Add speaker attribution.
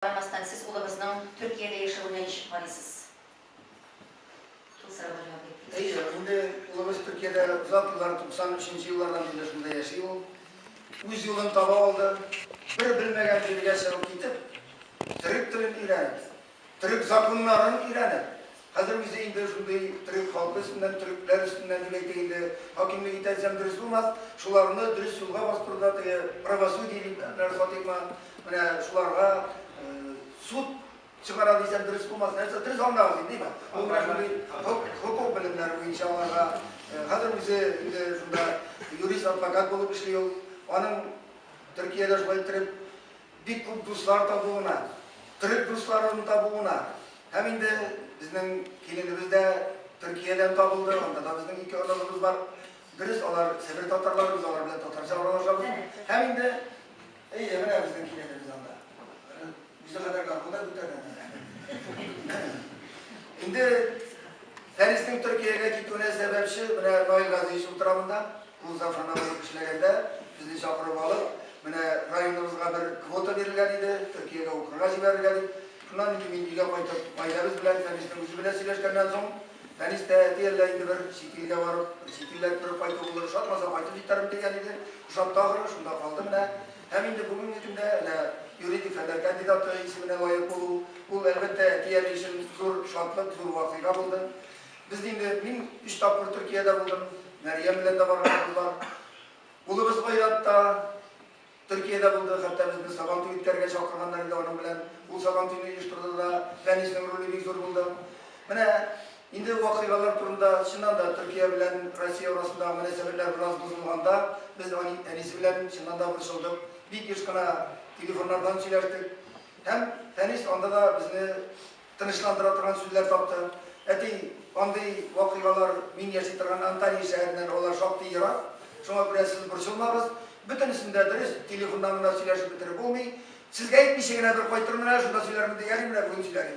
Speaker 1: Бармастан сез улыгызның Төркиядә яшәвенә ничек карыйсыз? Шул сорауга җавап итегез. Әйе, инде улыбыз Төркиядә озак еллар, 93 нче еллардан бирле шунда яши ул. Үз юлын таба алды. Бер белмәгән җиргә чыгып китеп, төрек телен өйрәнеп, төрек законнарын өйрәнеп, Хәзер үзе инде шундый төрек халкы өстеннән, төрекләр өстеннән дип әйтик инде, хакимлек итә дисәм дөрес булмас, шуларны дөрес юлга бастыруда теге правосудие дип әнвәр Фатыйхмы, менә шуларга суд чыгара дисәм дөрес булмас, нәрсә дөрес аңлагыз инде, дима. Бу менә шундый хокук белемнәре буенча аларга. Хәзер үзе инде шунда юрист, адвокат булып эшли ул. Аның Төркиядә шулай иттереп бик күп дуслар табуына, төрек дусларын табуына һәм инде безнең киленебез дә Төркиядән табылды, анда да безнең ике оныгыбыз бар. Дөрес, алар Себер татарлары, без алар белән татарча аралашабыз. Һәм инде, әйе, менә безнең киленебез анда. Үзе кадәр гармунда күтәргән. Инде Фәриснең Төркиягә китүенә сәбәпче менә Наил Газиевич утыра монда. Музафана булып эшләгәндә, безне чакырып алып, менә районыбызга бер квота бирелгән иде, Төркиягә укырга җибәрергә дип. Шуннан инде мин өйгә кайтып, гаиләбез белән Фәнистә үзе белән сөйләшкәннән соң, Фәнис тә, әти, әллә инде бер чит илгә барып, чит илләр күреп кайту булыр, ошатмаса, кайтып җитәрмен, дигән иде. Ошатты ахры, шунда калды менә. Һәм инде бүгенге көндә әнә юридик фәннәр кандидаты исеменә лаек булу, ул, әлбәттә, әти-әни өчен зур шатлык, зур вакыйга булды. Без инде, мин өч тапкыр Төркиядә булдым, Мәрьям белән дә барган булдылар. Улыбыз Айрат та Төркиядә булды, хәтта безне Сабантуй үткәрергә чакырганнар иде аның белән. Ул Сабантуйны оештырды да, Фәниснең роле бик зур булды. Менә инде вакыйгалар турында, чыннан да, Төркия белән Россия арасындагы мөнәсәбәтләр бераз бозылганда, без ани, әнисе белән чыннан да борчылдык. Бик еш кына телефоннардан сөйләштек. Һәм Фәнис анда да безне тынычландыра торган сүзләр тапты. Әти, андый вакыйгалар мин яши торган Анталия шәһәреннән алар шактый ерак, шуңа күрә сез борчылмагыз. Бөтенесен дә дөрес телефоннан гына сөйләшеп бетереп булмый. Сезгә әйтмичә генә бер кайтырмын әле, шунда сөйләрмен, ди, әни менә бүген сөйләгән.